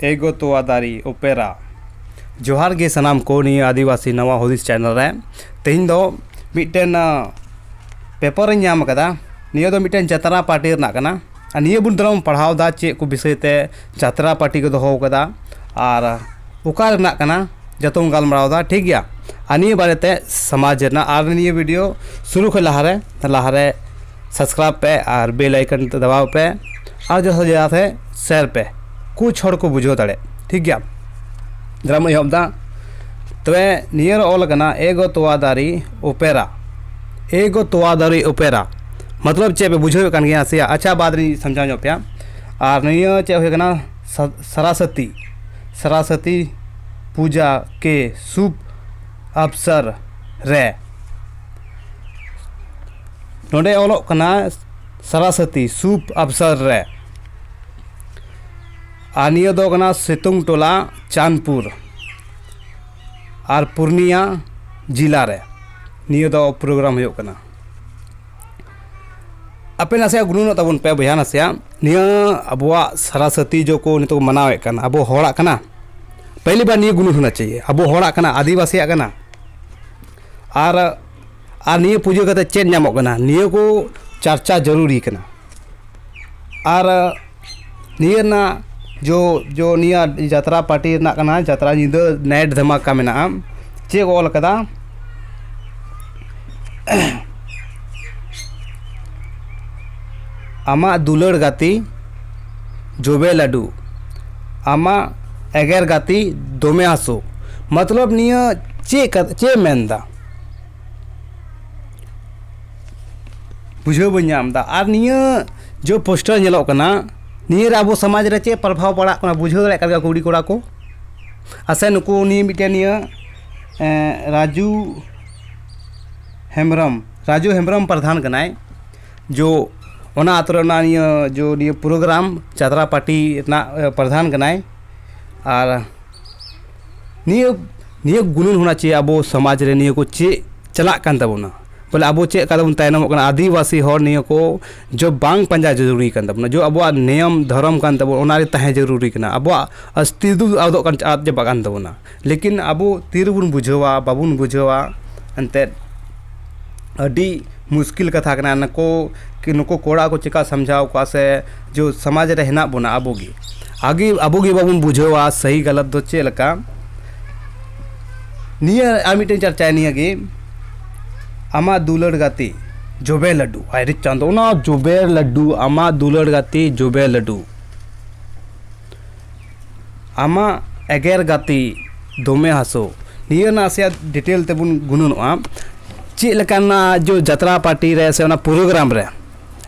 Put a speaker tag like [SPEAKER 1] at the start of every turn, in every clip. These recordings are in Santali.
[SPEAKER 1] ᱮᱜᱳ ᱛᱳᱣᱟ ᱫᱟᱨᱮ ᱳᱯᱮᱨᱟ ᱡᱚᱦᱟᱨ ᱜᱮ ᱥᱟᱱᱟᱢ ᱠᱚ ᱱᱤᱭᱟᱹ ᱟᱹᱫᱤᱵᱟᱹᱥᱤ ᱱᱟᱣᱟ ᱦᱩᱫᱤᱥ ᱪᱮᱱᱮᱞ ᱨᱮ ᱛᱮᱦᱮᱧ ᱫᱚ ᱢᱤᱫᱴᱮᱱ ᱯᱮᱯᱟᱨᱤᱧ ᱧᱟᱢ ᱟᱠᱟᱫᱟ ᱱᱤᱭᱟᱹ ᱫᱚ ᱢᱤᱫᱴᱮᱱ ᱡᱟᱛᱨᱟ ᱯᱟᱨᱴᱤ ᱨᱮᱱᱟᱜ ᱠᱟᱱᱟ ᱟᱨ ᱱᱤᱭᱟᱹ ᱵᱩᱱ ᱛᱟᱞᱟᱝ ᱯᱟᱲᱦᱟᱣ ᱮᱫᱟ ᱪᱮᱫ ᱠᱚ ᱵᱤᱥᱚᱭ ᱛᱮ ᱡᱟᱛᱨᱟ ᱯᱟᱨᱴᱤ ᱠᱚ ᱫᱚᱦᱚ ᱟᱠᱟᱫᱟ ᱟᱨ ᱚᱠᱟ ᱨᱮᱱᱟᱜ ᱠᱟᱱᱟ ᱡᱚᱛᱚ ᱵᱚᱱ ᱜᱟᱞᱢᱟᱨᱟᱣ ᱮᱫᱟ ᱴᱷᱤᱠ ᱜᱮᱭᱟ ᱟᱨ ᱱᱤᱭᱟᱹ ᱵᱟᱨᱮᱛᱮ ᱥᱚᱢᱟᱡᱽ ᱨᱮᱱᱟᱜ ᱟᱨ ᱱᱤᱭᱟᱹ ᱵᱷᱤᱰᱤᱭᱳ ᱥᱩᱨᱩ ᱠᱷᱚᱱ ᱞᱟᱦᱟᱨᱮ ᱞᱟᱦᱟᱨᱮ ᱥᱟᱵᱥᱠᱨᱟᱭᱤᱵᱽ ᱯᱮ ᱟᱨ ᱵᱮᱞ ᱟᱭᱠᱚᱱ ᱫᱟᱵᱟᱣ ᱯᱮ ᱟᱨ ᱡᱟᱦᱟᱸ ᱡᱟᱦᱟᱸᱛᱮ ᱥᱮᱭᱟᱨ ᱯᱮ ᱠᱩᱪ ᱦᱚᱲ ᱠᱚ ᱵᱩᱡᱷᱟᱹᱣ ᱫᱟᱲᱮᱜ ᱴᱷᱤᱠ ᱜᱮᱭᱟ ᱫᱨᱟᱢ ᱮᱦᱚᱵ ᱫᱟ ᱛᱚᱵᱮ ᱱᱤᱭᱟᱹ ᱨᱮ ᱚᱞ ᱠᱟᱱᱟ ᱮᱜᱚ ᱛᱚᱣᱟ ᱫᱟᱨᱮ ᱚᱯᱮᱨᱟ ᱮᱜᱚ ᱛᱚᱣᱟ ᱫᱟᱨᱮ ᱚᱯᱮᱨᱟ ᱢᱚᱛᱞᱚᱵ ᱪᱮᱫ ᱯᱮ ᱵᱩᱡᱷᱟᱹᱣᱮᱫ ᱠᱟᱱ ᱜᱮᱭᱟ ᱥᱮ ᱟᱪᱪᱷᱟ ᱵᱟᱫᱽ ᱨᱤᱧ ᱥᱟᱢᱡᱷᱟᱣ ᱧᱚᱜ ᱯᱮᱭᱟ ᱟᱨ ᱱᱤᱭᱟᱹ ᱪᱮᱫ ᱦᱩᱭ ᱠᱟᱱᱟ ᱥᱟᱨᱟᱥᱚᱛᱤ ᱥᱟᱨᱟᱥᱚᱛᱤ ᱯᱩᱡᱟ ᱠᱮ ᱥᱩᱵ ᱟᱯᱥᱟᱨ ᱨᱮ ᱱᱚᱸᱰᱮ ᱚᱞᱚᱜ ᱠᱟᱱᱟ ᱥᱟᱨᱟᱥᱟᱛᱤ ᱥᱩᱯ ᱟᱯᱥᱟᱨ ᱨᱮ ᱟᱨ ᱱᱤᱭᱟᱹ ᱫᱚ ᱠᱟᱱᱟ ᱥᱤᱛᱩᱝ ᱴᱚᱞᱟ ᱪᱟᱸᱫᱽᱯᱩᱨ ᱟᱨ ᱯᱩᱨᱱᱤᱭᱟ ᱡᱮᱞᱟ ᱨᱮ ᱱᱤᱭᱟᱹ ᱫᱚ ᱯᱨᱳᱜᱨᱟᱢ ᱦᱩᱭᱩᱜ ᱠᱟᱱᱟ ᱟᱯᱮ ᱱᱟᱥᱮᱭᱟᱜ ᱜᱩᱱᱟᱹᱱᱚᱜ ᱛᱟᱵᱚᱱ ᱯᱮ ᱵᱚᱭᱦᱟ ᱱᱟᱥᱮᱭᱟᱜ ᱱᱤᱭᱟᱹ ᱟᱵᱚᱣᱟᱜ ᱥᱟᱨᱟᱥᱟᱛᱤ ᱡᱚ ᱠᱚ ᱱᱤᱛᱚᱜ ᱠᱚ ᱢᱟᱱᱟᱣᱮᱫ ᱠᱟᱱ ᱟᱵᱚ ᱦᱚᱲᱟᱜ ᱠᱟᱱᱟ ᱯᱮᱦᱞᱤ ᱵᱟᱨ ᱱᱤᱭᱟᱹ ᱜᱩᱱᱟᱹᱱ ᱦᱳᱱᱟ ᱪᱟᱦᱤᱭᱮ ᱟᱵᱚ ᱦᱚᱲᱟᱜ ᱠᱟᱱᱟ ᱟᱹᱫᱤᱵᱟᱹᱥᱤᱭᱟᱜ ᱠᱟᱱᱟ ᱟᱨ ᱟᱨ ᱱᱤᱭᱟᱹ ᱯᱩᱡᱟᱹ ᱠᱟᱛᱮᱫ ᱪᱮᱫ ᱧᱟᱢᱚᱜ ᱠᱟᱱᱟ ᱱᱤᱭᱟᱹ ᱠᱚ ᱪᱟᱨᱪᱟ ᱡᱟᱹᱨᱩᱨᱤ ᱠᱟᱱᱟ ᱟᱨ ᱱᱤᱭᱟᱹ ᱨᱮᱱᱟᱜ ᱡᱚ ᱡᱚ ᱱᱤᱭᱟᱹ ᱡᱟᱛᱨᱟ ᱯᱟᱴᱤ ᱨᱮᱱᱟᱜ ᱠᱟᱱᱟ ᱡᱟᱛᱨᱟ ᱧᱤᱫᱟᱹ ᱱᱟᱭᱤᱴ ᱫᱷᱟᱢᱟᱠᱟ ᱢᱮᱱᱟᱜᱼᱟ ᱪᱮᱫ ᱠᱚ ᱚᱞ ᱠᱟᱫᱟ ᱟᱢᱟᱜ ᱫᱩᱞᱟᱹᱲ ᱜᱟᱛᱮ ᱡᱚᱵᱮ ᱞᱟᱹᱰᱩ ᱟᱢᱟᱜ ᱮᱜᱮᱨ ᱜᱟᱛᱮ ᱫᱚᱢᱮ ᱦᱟᱹᱥᱩ ᱢᱚᱛᱞᱚᱵ ᱱᱤᱭᱟᱹ ᱪᱮᱫ ᱠᱟᱛᱷᱟ ᱪᱮᱫ ᱮ ᱢᱮᱱᱫᱟ ᱵᱩᱡᱷᱟᱹᱣ ᱵᱟᱹᱧ ᱧᱟᱢᱫᱟ ᱟᱨ ᱱᱤᱭᱟᱹ ᱡᱮ ᱯᱳᱥᱴᱟᱨ ᱧᱮᱞᱚᱜ ᱠᱟᱱᱟ ᱱᱤᱭᱟᱹ ᱨᱮ ᱟᱵᱚ ᱥᱚᱢᱟᱡᱽ ᱨᱮ ᱪᱮᱫ ᱯᱨᱚᱵᱷᱟᱵᱽ ᱯᱟᱲᱟᱜ ᱠᱟᱱᱟ ᱵᱩᱡᱷᱟᱹᱣ ᱫᱟᱲᱮᱭᱟᱜ ᱠᱟᱱ ᱜᱮᱭᱟ ᱠᱩᱲᱤ ᱠᱚᱲᱟ ᱠᱚ ᱟᱥᱮ ᱱᱩᱠᱩ ᱩᱱᱤ ᱢᱤᱫᱴᱮᱱ ᱱᱤᱭᱟᱹ ᱨᱟᱡᱩ ᱦᱮᱢᱵᱨᱚᱢ ᱨᱟᱡᱩ ᱦᱮᱢᱵᱨᱚᱢ ᱯᱨᱚᱫᱷᱟᱱ ᱠᱟᱱᱟᱭ ᱡᱳ ᱚᱱᱟ ᱟᱛᱳ ᱨᱮ ᱱᱤᱭᱟᱹ ᱡᱳ ᱱᱤᱭᱟᱹ ᱯᱨᱳᱜᱨᱟᱢ ᱪᱟᱸᱫᱽᱲᱟ ᱯᱟᱴᱤ ᱨᱮᱱᱟᱜ ᱯᱨᱚᱫᱷᱟᱱ ᱠᱟᱱᱟᱭ ᱟᱨ ᱱᱤᱭᱟᱹ ᱱᱤᱭᱟᱹ ᱜᱩᱱᱟᱹᱱ ᱦᱳᱱᱟ ᱪᱟᱦᱤᱭᱮ ᱟᱵᱚ ᱥᱚᱢᱟᱡᱽ ᱨᱮ ᱱᱤᱭᱟᱹ ᱠᱚ ᱪᱮᱫ ᱪᱟᱞᱟᱜ ᱠᱟᱱ ᱛᱟᱵᱚᱱᱟ ᱵᱚᱞᱮ ᱟᱵᱚ ᱪᱮᱫ ᱞᱮᱠᱟ ᱛᱮᱵᱚᱱ ᱛᱟᱭᱱᱚᱢᱚᱜ ᱠᱟᱱᱟ ᱟᱹᱫᱤᱵᱟᱹᱥᱤ ᱦᱚᱲ ᱱᱤᱭᱟᱹ ᱠᱚ ᱡᱚᱵᱽ ᱵᱟᱝ ᱯᱟᱸᱡᱟ ᱡᱟᱹᱨᱩᱨᱤ ᱠᱟᱱ ᱛᱟᱵᱚᱱᱟ ᱡᱚᱵᱽ ᱟᱵᱚᱣᱟᱜ ᱱᱤᱭᱚᱢ ᱫᱷᱚᱨᱚᱢ ᱠᱟᱱ ᱛᱟᱵᱚᱱᱟ ᱚᱱᱟ ᱨᱮ ᱛᱟᱦᱮᱸ ᱡᱟᱹᱨᱩᱨᱤ ᱠᱟᱱᱟ ᱟᱵᱚᱣᱟᱜ ᱚᱥᱛᱤᱛᱛᱚ ᱟᱫᱚᱜ ᱠᱟᱱ ᱟᱫ ᱪᱟᱵᱟᱜ ᱠᱟᱱ ᱛᱟᱵᱚᱱᱟ ᱞᱮᱠᱤᱱ ᱟᱵᱚ ᱛᱤ ᱨᱮᱵᱚᱱ ᱵᱩᱡᱷᱟᱹᱣᱟ ᱵᱟᱵᱚᱱ ᱵᱩᱡᱷᱟᱹᱣᱟ ᱮᱱᱛᱮᱫ ᱟᱹᱰᱤ ᱢᱩᱥᱠᱤᱞ ᱠᱟᱛᱷᱟ ᱠᱟᱱᱟ ᱱᱩᱠᱩ ᱠᱤ ᱱᱩᱠᱩ ᱠᱚᱲᱟ ᱠᱚ ᱪᱤᱠᱟᱹ ᱥᱟᱢᱡᱷᱟᱣ ᱠᱚᱣᱟ ᱥᱮ ᱡᱮ ᱥᱚᱢᱟᱡᱽ ᱨᱮ ᱦᱮᱱᱟᱜ ᱵᱚᱱᱟ ᱟᱵᱚ ᱜᱮ ᱟᱜᱮ ᱟᱵᱚ ᱜᱮ ᱵᱟᱵᱚᱱ ᱵᱩᱡᱷᱟᱹᱣᱟ ᱥᱟᱹᱦᱤ ᱜᱟᱞᱟᱛ ᱫᱚ ᱪᱮᱫ ᱞᱮᱠᱟ ᱱᱤᱭᱟᱹ ᱟᱨ ᱢᱤᱫᱴᱮᱱ ᱪᱟᱨᱪᱟᱭᱟ ᱱᱤᱭᱟᱹ ᱜᱮ ᱟᱢᱟᱜ ᱫᱩᱞᱟᱹᱲ ᱜᱟᱛᱮ ᱡᱚᱵᱮ ᱞᱟᱹᱰᱩ ᱦᱟᱭ ᱨᱮ ᱪᱟᱸᱫᱚ ᱚᱱᱟ ᱡᱚᱵᱮ ᱞᱟᱹᱰᱩ ᱟᱢᱟᱜ ᱫᱩᱞᱟᱹᱲ ᱜᱟᱛᱮ ᱡᱚᱵᱮ ᱞᱟᱹᱰᱩ ᱟᱢᱟᱜ ᱮᱜᱮᱨ ᱜᱟᱛᱮ ᱫᱚᱢᱮ ᱦᱟᱹᱥᱩ ᱱᱤᱭᱟᱹ ᱨᱮᱱᱟᱜ ᱱᱟᱥᱮᱭᱟᱜ ᱰᱤᱴᱮᱞ ᱛᱮᱵᱚᱱ ᱜᱩᱱᱟᱹᱱᱚᱜᱼᱟ ᱪᱮᱫ ᱞᱮᱠᱟᱱᱟᱜ ᱡᱮ ᱡᱟᱛᱨᱟ ᱯᱟᱴᱤ ᱨᱮ ᱥᱮ ᱚᱱᱟ ᱯᱨᱳᱜᱨᱟᱢ ᱨᱮ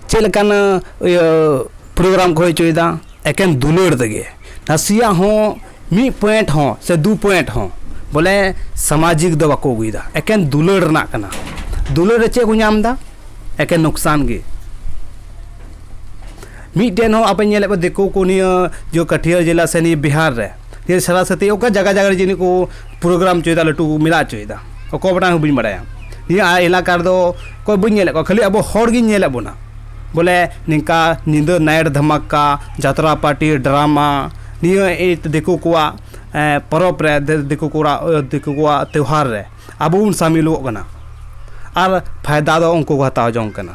[SPEAKER 1] ᱪᱮᱫ ᱞᱮᱠᱟᱱᱟᱜ ᱤᱭᱟᱹ ᱯᱨᱳᱜᱨᱟᱢ ᱠᱚ ᱦᱩᱭ ᱦᱚᱪᱚᱭᱮᱫᱟ ᱮᱠᱮᱱ ᱫᱩᱞᱟᱹᱲ ᱛᱮᱜᱮ ᱱᱟᱥᱮᱭᱟᱜ ᱦᱚᱸ ᱢᱤᱫ ᱯᱚᱭᱮᱱᱴ ᱦᱚᱸ ᱥᱮ ᱫᱩ ᱯᱚᱭᱮᱱᱴ ᱦᱚᱸ ᱵᱚᱞᱮ ᱥᱟᱢᱟᱡᱤᱠ ᱫᱚ ᱵᱟᱠᱚ ᱟᱹᱜᱩᱭᱮᱫᱟ ᱮᱠᱮᱱ ᱫᱩᱞᱟᱹᱲ ᱨᱮᱱᱟᱜ ᱠᱟᱱᱟ ᱫᱩᱞᱟᱹᱲ ᱨᱮ ᱪᱮᱫ ᱠᱚ ᱧᱟᱢᱫᱟ ᱮᱠᱮᱱ ᱞᱳᱠᱥᱟᱱ ᱜᱮ ᱢᱤᱫᱴᱮᱱ ᱦᱚᱸ ᱟᱯᱮ ᱧᱮᱞᱮᱫ ᱠᱚᱣᱟ ᱫᱤᱠᱩ ᱠᱚ ᱱᱤᱭᱟᱹ ᱡᱮ ᱠᱟᱹᱴᱷᱤᱭᱟᱹᱲ ᱡᱮᱞᱟ ᱥᱮ ᱱᱤᱭᱟᱹ ᱵᱤᱦᱟᱨ ᱨᱮ ᱱᱤᱭᱟᱹ ᱥᱚᱨᱟᱥᱚᱛᱤ ᱚᱠᱟ ᱡᱟᱭᱜᱟ ᱡᱟᱭᱜᱟ ᱨᱮ ᱡᱟᱹᱱᱤᱡ ᱠᱚ ᱯᱨᱳᱜᱨᱟᱢ ᱦᱚᱪᱚᱭᱮᱫᱟ ᱞᱟᱹᱴᱩ ᱠᱚ ᱢᱮᱞᱟ ᱦᱚᱪᱚᱭᱮᱫᱟ ᱚᱠᱚᱭ ᱵᱟᱰᱟᱭ ᱤᱧ ᱦᱚᱸ ᱵᱟᱹᱧ ᱵᱟᱲᱟᱭᱟ ᱱᱤᱭᱟᱹ ᱟᱞᱮ ᱮᱞᱟᱠᱟ ᱨᱮᱫᱚ ᱚᱠᱚᱭ ᱵᱟᱹᱧ ᱧᱮᱞᱮᱫ ᱠᱚᱣᱟ ᱠᱷᱟᱹᱞᱤ ᱟᱵᱚ ᱦᱚᱲ ᱜᱤᱧ ᱧᱮᱞᱮᱫ ᱵᱚᱱᱟ ᱵᱚᱞᱮ ᱱᱤᱝᱠᱟ ᱧᱤᱫᱟᱹ ᱱᱟᱭᱤᱴ ᱫᱷᱟᱢᱟᱠᱟ ᱡᱟᱛᱨᱟ ᱯᱟᱴᱤ ᱰᱨᱟᱢᱟ ᱱᱤᱭᱟᱹ ᱫᱤᱠᱩ ᱠᱚᱣᱟᱜ ᱯᱚᱨᱚᱵᱽ ᱨᱮ ᱫᱤᱠᱩ ᱠᱚᱲᱟᱜ ᱫᱤᱠᱩ ᱠᱚᱣᱟᱜ ᱛᱮᱣᱦᱟᱨ ᱨᱮ ᱟᱵᱚ ᱵᱚᱱ ᱥᱟᱹᱢᱤᱞᱚᱜ ᱠᱟᱱᱟ ᱟᱨ ᱯᱷᱟᱭᱫᱟ ᱫᱚ ᱩᱱᱠᱩ ᱠᱚ ᱦᱟᱛᱟᱣ ᱡᱚᱝ ᱠᱟᱱᱟ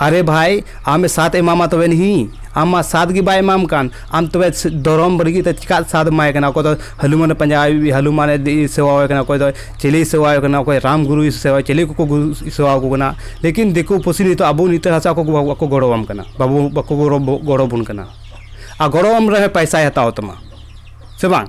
[SPEAKER 1] ᱟᱨᱮ ᱵᱷᱟᱭ ᱟᱢ ᱮ ᱥᱟᱛ ᱮᱢᱟᱢᱟ ᱛᱚᱵᱮ ᱱᱤᱦᱤ ᱟᱢ ᱢᱟ ᱥᱟᱛ ᱜᱮ ᱵᱟᱭ ᱮᱢᱟᱢ ᱠᱟᱱ ᱟᱢ ᱛᱚᱵᱮ ᱫᱷᱚᱨᱚᱢ ᱵᱟᱹᱜᱤ ᱠᱟᱛᱮ ᱪᱤᱠᱟᱹ ᱛᱮ ᱥᱟᱛ ᱮᱢᱟᱭ ᱠᱟᱱᱟ ᱚᱠᱚᱭ ᱫᱚ ᱦᱟᱹᱱᱩᱢᱟᱱᱮ ᱯᱟᱸᱡᱟ ᱟᱭ ᱦᱟᱹᱱᱩᱢᱟᱱᱮ ᱥᱮᱵᱟ ᱟᱭ ᱠᱟᱱᱟ ᱚᱠᱚᱭ ᱫᱚ ᱪᱤᱞᱤᱭ ᱥᱮᱵᱟ ᱟᱭ ᱠᱟᱱᱟ ᱚᱠᱚᱭ ᱨᱟᱢ ᱜᱩᱨᱩᱭ ᱥᱮᱵᱟᱭ ᱪᱤᱞᱤ ᱠᱚᱠᱚ ᱜᱩᱨᱩ ᱥᱮᱵᱟ ᱟᱠᱚ ᱠᱟᱱᱟ ᱞᱮᱠᱤᱱ ᱫᱤᱠᱩ ᱯᱩᱥᱤ ᱱᱤᱛᱚᱜ ᱟᱵᱚ ᱱᱤᱛᱚᱜ ᱦᱟᱥᱟ ᱠᱚ ᱵᱟᱠᱚ ᱜᱚᱲᱚ ᱟᱢ ᱠᱟᱱᱟ ᱵᱟᱵᱚ ᱵᱟᱠᱚ ᱜᱚᱲᱚ ᱟᱵᱚᱱ ᱠᱟᱱᱟ ᱟᱨ ᱜᱚᱲᱚ ᱟᱢ ᱨᱮᱦᱚᱸᱭ ᱯᱚᱭᱥᱟᱭ ᱦᱟᱛᱟᱣ ᱛᱟᱢᱟ ᱥᱮ ᱵᱟᱝ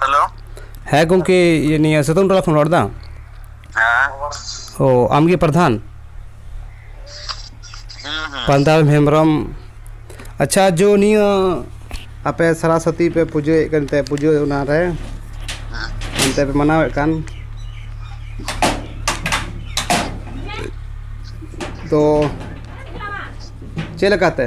[SPEAKER 1] ᱦᱮᱞᱳ ᱦᱮᱸ ᱜᱚᱢᱠᱮ ᱤᱭᱟᱹ ᱱᱤᱭᱟᱹ ᱥᱤᱛᱩᱝ ᱴᱚᱞᱟ ᱠᱷᱚᱱ ᱨᱚᱲ ᱫᱟᱢ ᱦᱮᱸ ᱚ ᱟᱢᱜᱮ ᱯᱨᱟᱫᱷᱟᱱ ᱦᱩᱸ ᱦᱩᱸ ᱯᱨᱟᱫᱷᱟᱱ ᱦᱮᱢᱵᱨᱚᱢ ᱟᱪᱪᱷᱟ ᱡᱚ ᱱᱤᱭᱟᱹ ᱟᱯᱮ ᱥᱟᱨᱟᱥᱚᱛᱤ ᱯᱮ ᱯᱩᱡᱟᱹᱭᱮᱫ ᱠᱟᱱᱛᱮ ᱯᱩᱡᱟᱹ ᱚᱱᱟᱨᱮ ᱦᱮᱸ ᱚᱱᱛᱮ ᱯᱮ ᱢᱟᱱᱟᱣᱮᱫ ᱠᱟᱱ ᱛᱚ ᱪᱮᱫ ᱞᱮᱠᱟᱛᱮ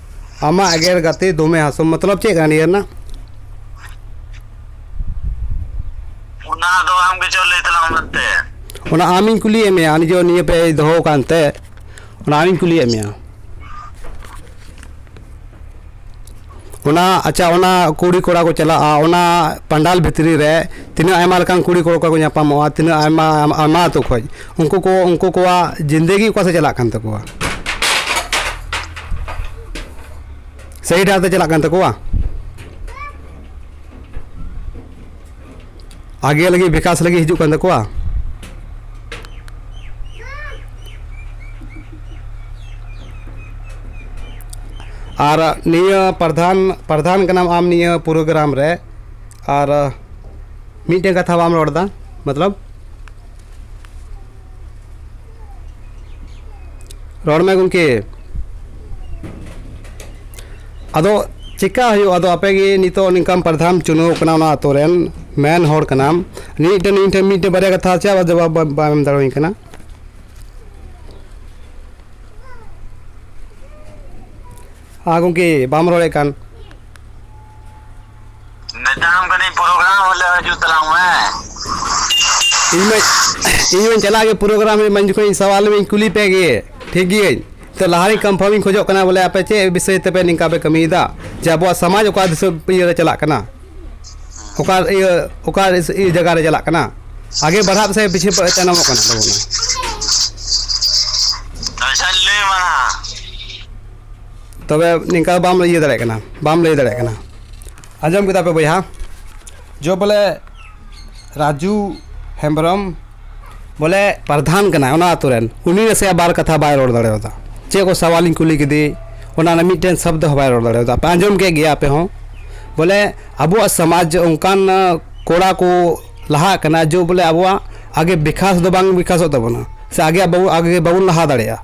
[SPEAKER 1] ᱟᱢᱟᱜ ᱮᱜᱮᱨ ᱜᱟᱛᱮ ᱫᱚᱢᱮ ᱦᱟᱥᱚᱢ ᱢᱚᱛᱞᱚᱵ ᱪᱮᱫ ᱠᱟᱱᱟ ᱱᱤᱭᱟᱹ ᱨᱮᱱᱟᱜ ᱚᱱᱟ ᱫᱚ ᱟᱢ ᱜᱮ ᱪᱚ ᱞᱟᱹᱭ ᱛᱟᱞᱟᱝ ᱢᱮ ᱛᱮ ᱚᱱᱟ ᱟᱢᱤᱧ ᱠᱩᱞᱤᱭᱮᱫ ᱢᱮᱭᱟ ᱱᱤᱡᱮ ᱱᱤᱭᱟᱹ ᱯᱮ ᱫᱚᱦᱚ ᱟᱠᱟᱱ ᱛᱮ ᱚᱱᱟ ᱟᱢᱤᱧ ᱠᱩᱞᱤᱭᱮᱫ ᱢᱮᱭᱟ ᱚᱱᱟ ᱟᱪᱪᱷᱟ ᱚᱱᱟ ᱠᱩᱲᱤ ᱠᱚᱲᱟ ᱠᱚ ᱪᱟᱞᱟᱜᱼᱟ ᱚᱱᱟ ᱯᱟᱱᱰᱟᱞ ᱵᱷᱤᱛᱨᱤ ᱨᱮ ᱛᱤᱱᱟᱹᱜ ᱟᱭᱢᱟ ᱞᱮᱠᱟᱱ ᱠᱩᱲᱤ ᱠᱚᱲᱟ ᱠᱚ ᱧᱟᱯᱟᱢᱚᱜᱼᱟ ᱛᱤᱱᱟᱹᱜ ᱟᱭᱢᱟ ᱟᱭᱢᱟ ᱟᱹᱛᱩ ᱠᱷᱚᱱ ᱩᱱᱠᱩ ᱠᱚ ᱩᱱᱠᱩ ᱠᱚᱣᱟᱜ ᱡᱤᱱᱫᱮᱜᱤ ᱚᱠᱟ ᱥᱮᱫ ᱪᱟᱞᱟᱜ ᱠᱟᱱ ᱛᱟᱠᱚᱣᱟ ᱥᱟᱹᱦᱤ ᱰᱟᱦᱟᱨ ᱛᱮ ᱪᱟᱞᱟᱜ ᱠᱟᱱ ᱛᱟᱠᱚᱣᱟ ᱟᱜᱮ ᱞᱟᱹᱜᱤᱫ ᱵᱤᱠᱟᱥ ᱞᱟᱹᱜᱤᱫ ᱦᱤᱡᱩᱜ ᱠᱟᱱ ᱛᱟᱠᱚᱣᱟ ᱟᱨ ᱱᱤᱭᱟᱹ ᱯᱨᱚᱫᱷᱟᱱ ᱯᱨᱚᱫᱷᱟᱱ ᱠᱟᱱᱟᱢ ᱟᱢ ᱱᱤᱭᱟᱹ ᱯᱨᱳᱜᱨᱟᱢ ᱨᱮ ᱟᱨ ᱢᱤᱫᱴᱮᱱ ᱠᱟᱛᱷᱟ ᱵᱟᱢ ᱨᱚᱲᱫᱟ ᱢᱚᱛᱞᱚᱵ ᱨᱚᱲ ᱢᱮ ᱜᱚᱢᱠᱮ ᱟᱫᱚ ᱪᱮᱠᱟ ᱦᱩᱭᱩᱜᱼᱟ ᱟᱫᱚ ᱟᱯᱮ ᱜᱮ ᱱᱤᱛᱚᱜ ᱱᱤᱝᱠᱟᱢ ᱯᱨᱚᱫᱷᱟᱱ ᱪᱩᱱᱟᱹᱣ ᱠᱟᱱᱟ ᱚᱱᱟ ᱟᱛᱳ ᱨᱮᱱ ᱢᱮᱱ ᱦᱚᱲ ᱠᱟᱱᱟᱢ ᱱᱤᱭᱟᱹ ᱴᱷᱮᱱ ᱤᱧ ᱴᱷᱮᱱ ᱢᱤᱫᱴᱮᱱ ᱵᱟᱨᱭᱟ ᱠᱟᱛᱷᱟ ᱪᱮᱫ ᱟᱵᱟᱨ ᱡᱚᱵᱟᱵ ᱵᱟ- ᱵᱟᱢ ᱮᱢ ᱫᱟᱲᱮᱭᱟᱹᱧ ᱠᱟᱱᱟ ᱦᱮᱸ ᱜᱚᱢᱠᱮ ᱵᱟᱢ ᱨᱚᱲᱮᱫ ᱠᱟᱱ ᱢᱮᱛᱟᱢ ᱠᱟᱹᱱᱟᱹᱧ ᱯᱨᱳᱜᱨᱟᱢ ᱦᱤᱞᱳᱜ ᱦᱤᱡᱩᱜ ᱛᱟᱞᱟᱝ ᱢᱮ ᱤᱧ ᱢᱟ ᱤᱧ ᱢᱟᱧ ᱪᱟᱞᱟᱜ ᱜᱮ ᱯᱨᱳᱜᱨᱟᱢ ᱨᱮ ᱢᱟᱧ ᱡᱚᱠᱷᱚᱱ ᱥᱟᱶᱟᱞ ᱢᱮᱧ ᱠᱩᱞᱤ ᱯᱮ ᱜᱮ ᱴᱷᱤᱠ ᱜᱤᱭᱟᱹᱧ ᱛᱚ ᱞᱟᱦᱟᱨᱮᱧ ᱠᱚᱱᱯᱷᱟᱨᱢᱤᱧ ᱠᱷᱚᱡᱚᱜ ᱠᱟᱱᱟ ᱵᱚᱞᱮ ᱟᱯᱮ ᱪᱮᱫ ᱵᱤᱥᱚᱭ ᱛᱮᱯᱮ ᱱᱤᱝᱠᱟ ᱯᱮ ᱠᱟᱹᱢᱤᱭᱮᱫᱟ ᱡᱮ ᱟᱵᱚᱣᱟᱜ ᱥᱚᱢᱟᱡᱽ ᱚᱠᱟ ᱫᱤᱥᱟᱹ ᱤᱭᱟᱹᱨᱮ ᱪᱟᱞᱟᱜ ᱠᱟᱱᱟ ᱚᱠᱟ ᱤᱭᱟᱹ ᱚᱠᱟ ᱤᱭᱟᱹ ᱡᱟᱭᱜᱟ ᱨᱮ ᱪᱟᱞᱟᱜ ᱠᱟᱱᱟ ᱟᱜᱮ ᱵᱟᱲᱦᱟᱜ ᱯᱮᱥᱮ ᱯᱤᱪᱷᱮ ᱯᱮ ᱛᱟᱭᱱᱚᱢᱚᱜ ᱠᱟᱱ ᱛᱟᱵᱚᱱᱟ ᱟᱪᱪᱷᱟᱧ ᱞᱟᱹᱭ ᱟᱢᱟ ᱦᱟᱸᱜ ᱛᱚᱵᱮ ᱱᱤᱝᱠᱟ ᱵᱟᱢ ᱤᱭᱟᱹ ᱫᱟᱲᱮᱭᱟᱜ ᱠᱟᱱᱟ ᱵᱟᱢ ᱞᱟᱹᱭ ᱫᱟᱲᱮᱭᱟᱜ ᱠᱟᱱᱟ ᱟᱸᱡᱚᱢ ᱠᱮᱫᱟ ᱯᱮ ᱵᱚᱭᱦᱟ ᱡᱚ ᱵᱚᱞᱮ ᱨᱟᱡᱩ ᱦᱮᱢᱵᱨᱚᱢ ᱵᱚᱞᱮ ᱯᱨᱚᱫᱷᱟᱱ ᱠᱟᱱᱟᱭ ᱚᱱᱟ ᱟᱹᱛᱩ ᱨᱮᱱ ᱩᱱᱤ ᱱᱟᱥᱮᱭᱟᱜ ᱵᱟᱨ ᱠᱟᱛᱷᱟ ᱵᱟᱭ ᱨᱚᱲ ᱫᱟᱲᱮᱭᱟᱫᱟ ᱪᱮᱫ ᱠᱚ ᱥᱟᱣᱟᱞᱤᱧ ᱠᱩᱞᱤ ᱠᱮᱫᱮ ᱚᱱᱟ ᱨᱮᱱᱟᱜ ᱢᱤᱫᱴᱮᱱ ᱥᱚᱵᱫᱚ ᱦᱚᱸ ᱵᱟᱭ ᱨᱚᱲ ᱫᱟᱲᱮᱭᱟᱫᱟ ᱟᱯᱮ ᱟᱸᱡᱚᱢ ᱠᱮᱫ ᱜᱮᱭᱟ ᱟᱯᱮ ᱦᱚᱸ ᱵᱚᱞᱮ ᱟᱵᱚᱣᱟᱜ ᱥᱚᱢᱟᱡᱽ ᱚᱱᱠᱟᱱ ᱠᱚᱲᱟ ᱠᱚ ᱞᱟᱦᱟᱜ ᱠᱟᱱᱟ ᱡᱮ ᱵᱚᱞᱮ ᱟᱵᱚᱣᱟᱜ ᱟᱜᱮ ᱵᱤᱠᱟᱥ ᱫᱚ ᱵᱟᱝ ᱵᱤᱠᱟᱥᱚᱜ ᱛᱟᱵᱚᱱᱟ ᱥᱮ ᱟᱜᱮ ᱟᱜᱮ ᱵᱟᱵᱚᱱ ᱞᱟᱦᱟ ᱫᱟᱲᱮᱭᱟᱜᱼᱟ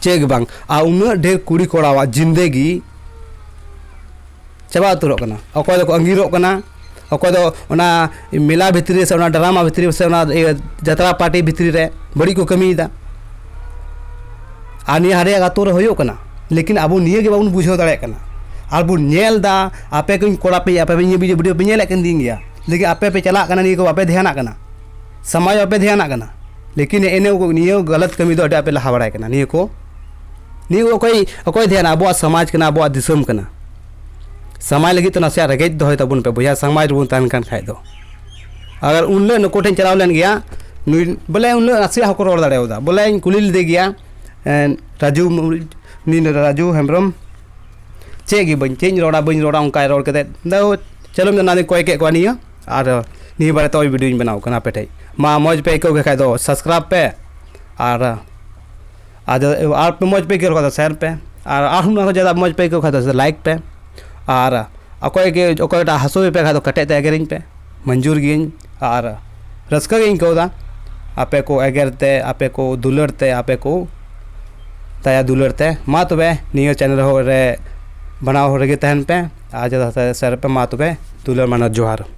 [SPEAKER 1] ᱪᱮᱫ ᱜᱮ ᱵᱟᱝ ᱟᱨ ᱩᱱᱟᱹᱜ ᱰᱷᱮᱨ ᱠᱩᱲᱤ ᱠᱚᱲᱟᱣᱟᱜ ᱡᱤᱱᱫᱮᱜᱤ ᱪᱟᱵᱟ ᱩᱛᱟᱹᱨᱚᱜ ᱠᱟᱱᱟ ᱚᱠᱚᱭ ᱫᱚᱠᱚ ᱟᱺᱜᱤᱨᱚᱜ ᱠᱟᱱᱟ ᱚᱠᱚᱭ ᱫᱚ ᱚᱱᱟ ᱢᱮᱞᱟ ᱵᱷᱤᱛᱨᱤ ᱨᱮ ᱥᱮ ᱚᱱᱟ ᱰᱨᱟᱢᱟ ᱵᱷᱤᱛᱨᱤ ᱨᱮ ᱥᱮ ᱚᱱᱟ ᱤᱭᱟᱹ ᱡᱟᱛᱨᱟ ᱯᱟᱴᱤ ᱵᱷᱤᱛᱨᱤ ᱨᱮ ᱵᱟᱹᱲᱤᱡ ᱠᱚ ᱠᱟᱹᱢᱤᱭᱮᱫᱟ ᱟᱨ ᱱᱤᱭᱟᱹ ᱟᱞᱮᱭᱟᱜ ᱟᱛᱳ ᱨᱮ ᱦᱩᱭᱩᱜ ᱠᱟᱱᱟ ᱞᱮᱠᱤᱱ ᱟᱵᱚ ᱱᱤᱭᱟᱹ ᱜᱮ ᱵᱟᱵᱚᱱ ᱵᱩᱡᱷᱟᱹᱣ ᱫᱟᱲᱮᱭᱟᱜ ᱠᱟᱱᱟ ᱟᱨ ᱵᱚᱱ ᱧᱮᱞᱫᱟ ᱟᱯᱮ ᱠᱚᱧ ᱠᱚᱲᱟ ᱯᱮ ᱟᱯᱮ ᱯᱮ ᱱᱤᱭᱟᱹ ᱵᱷᱤᱰᱤᱭᱳ ᱯᱮ ᱧᱮᱞᱮᱫ ᱠᱟᱱ ᱛᱤᱧ ᱜᱮᱭᱟ ᱞᱮᱠᱤᱱ ᱟᱯᱮ ᱯᱮ ᱪᱟᱞᱟᱜ ᱠᱟᱱᱟ ᱱᱤᱭᱟᱹ ᱠᱚ ᱵᱟᱯᱮ ᱫᱷᱮᱭᱟᱱᱟᱜ ᱠᱟᱱᱟ ᱥᱟᱢᱟᱡᱽ ᱵᱟᱯᱮ ᱫᱷᱮᱭᱟᱱᱟᱜ ᱠᱟᱱᱟ ᱞᱮᱠᱤᱱ ᱮᱱᱮ ᱱᱤᱭᱟᱹ ᱜᱟᱞᱟᱛ ᱠᱟᱹᱢᱤ ᱫᱚ ᱟᱹᱰᱤ ᱟᱯᱮ ᱞᱟᱦᱟ ᱵᱟᱲᱟᱭ ᱠᱟᱱᱟ ᱱᱤᱭᱟᱹ ᱠᱚ ᱱᱤᱭᱟᱹ ᱚᱠᱚᱭ ᱚᱠᱚᱭ ᱫᱷᱮᱭᱟᱱᱟ ᱟᱵᱚᱣᱟᱜ ᱥᱚᱢᱟᱡᱽ ᱠᱟᱱᱟ ᱟᱵᱚᱣᱟᱜ ᱫᱤᱥᱚᱢ ᱠᱟᱱᱟ ᱥᱟᱢᱟᱡᱽ ᱞᱟᱹᱜᱤᱫ ᱛᱮ ᱱᱟᱥᱮᱭᱟᱜ ᱨᱮᱜᱮᱡ ᱫᱚᱦᱚᱭ ᱛᱟᱵᱚᱱ ᱯᱮ ᱵᱚᱭᱦᱟ ᱥᱟᱢᱟᱡᱽ ᱨᱮᱵᱚᱱ ᱛᱟᱦᱮᱱ ᱠᱟᱱ ᱠᱷᱟᱡ ᱫᱚ ᱟᱜᱟᱨ ᱩᱱ ᱦᱤᱞᱳᱜ ᱱᱩᱠᱩ ᱴᱷᱮᱱ ᱪᱟᱞᱟᱣ ᱞᱮᱱ ᱜᱮᱭᱟ ᱱᱩᱭ ᱵᱚᱞᱮ ᱩᱱ ᱦᱤᱞᱳᱜ ᱱᱟᱥᱮᱭᱟᱜ ᱦᱚᱸᱠᱚ ᱨᱚᱲ ᱫᱟᱲᱮᱭᱟᱫᱟ ᱵᱚᱞᱮᱧ ᱠᱩᱞᱤ ᱞᱮᱫᱮ ᱜᱮᱭᱟ ᱨᱟᱡᱩ ᱩᱱᱤ ᱨᱟᱡᱩ ᱦᱮᱢᱵᱨᱚᱢ ᱪᱮᱫ ᱜᱮ ᱵᱟᱹᱧ ᱪᱮᱫ ᱤᱧ ᱨᱚᱲᱟ ᱵᱟᱹᱧ ᱨᱚᱲᱟ ᱚᱱᱠᱟᱭ ᱨᱚᱲ ᱠᱮᱫᱟ ᱫᱟᱹᱴ ᱪᱚᱞᱚ ᱢᱮᱱᱫᱟ ᱚᱱᱟᱛᱮᱧ ᱠᱚᱭ ᱠᱮᱫ ᱠᱚᱣᱟ ᱱᱤᱭᱟᱹ ᱟᱨ ᱱᱤᱭᱟᱹ ᱵᱟᱨᱮᱛᱮ ᱱᱚᱜᱼᱚᱭ ᱵᱷᱤᱰᱤᱭᱳᱧ ᱵᱮᱱᱟᱣ ᱠᱟᱱᱟ ᱟᱯᱮ ᱴᱷᱮᱡ ᱢᱟ ᱢᱚᱡᱽ ᱯᱮ ᱟᱹᱭᱠᱟᱹᱣ ᱠᱮᱫ ᱠᱷᱟᱡ ᱫᱚ ᱥᱟᱵᱥᱠᱨᱟᱭᱤᱵᱽ ᱯᱮ ᱟᱨ ᱟᱫᱚ ᱟᱨ ᱢᱚᱡᱽ ᱯᱮ ᱟᱹᱭᱠᱟᱹᱣ ᱠᱷᱟᱡ ᱫᱚ ᱥᱮᱭᱟᱨ ᱯᱮ ᱟᱨ ᱟᱨᱦᱚᱸ ᱱᱚᱣᱟ ᱠᱷᱚᱡ ᱡᱟᱫᱟ ᱢᱚᱡᱽ ᱯᱮ ᱟᱹᱭᱠᱟᱹᱣ ᱠᱷᱟᱡ ᱫᱚ ᱞᱟᱭᱤᱠ ᱯᱮ ᱟᱨ ᱚᱠᱚᱭ ᱜᱮ ᱚᱠᱚᱭᱴᱟᱜ ᱦᱟᱹᱥᱩᱭᱮᱫ ᱯᱮ ᱠᱷᱟᱡ ᱫᱚ ᱠᱮᱴᱮᱡ ᱛᱮ ᱮᱜᱮᱨᱤᱧ ᱯᱮ ᱢᱚᱧᱡᱩᱨ ᱜᱤᱭᱟᱹᱧ ᱟᱨ ᱨᱟᱹᱥᱠᱟᱹ ᱜᱤᱧ ᱟᱹᱭᱠᱟᱹᱣᱫᱟ ᱟᱯᱮ ᱠᱚ ᱮᱜᱮᱨ ᱛᱮ ᱟᱯᱮ ᱠᱚ ᱫᱩᱞᱟᱹᱲ ᱛᱮ ᱟᱯᱮ ᱠᱚ ᱫᱟᱭᱟ ᱫᱩᱞᱟᱹᱲ ᱛᱮ ᱢᱟ ᱛᱚᱵᱮ ᱱᱤᱭᱟᱹ ᱪᱮᱱᱮᱞ ᱨᱮ ᱵᱮᱱᱟᱣ ᱨᱮᱜᱮ ᱛᱟᱦᱮᱱ ᱯᱮ ᱟᱨ ᱡᱟᱫᱟ ᱥᱮᱭᱟᱨ ᱯᱮ ᱢᱟ ᱛᱚᱵᱮ ᱫᱩᱞᱟᱹᱲ ᱢᱟᱱᱮ ᱡᱚᱦᱟᱨ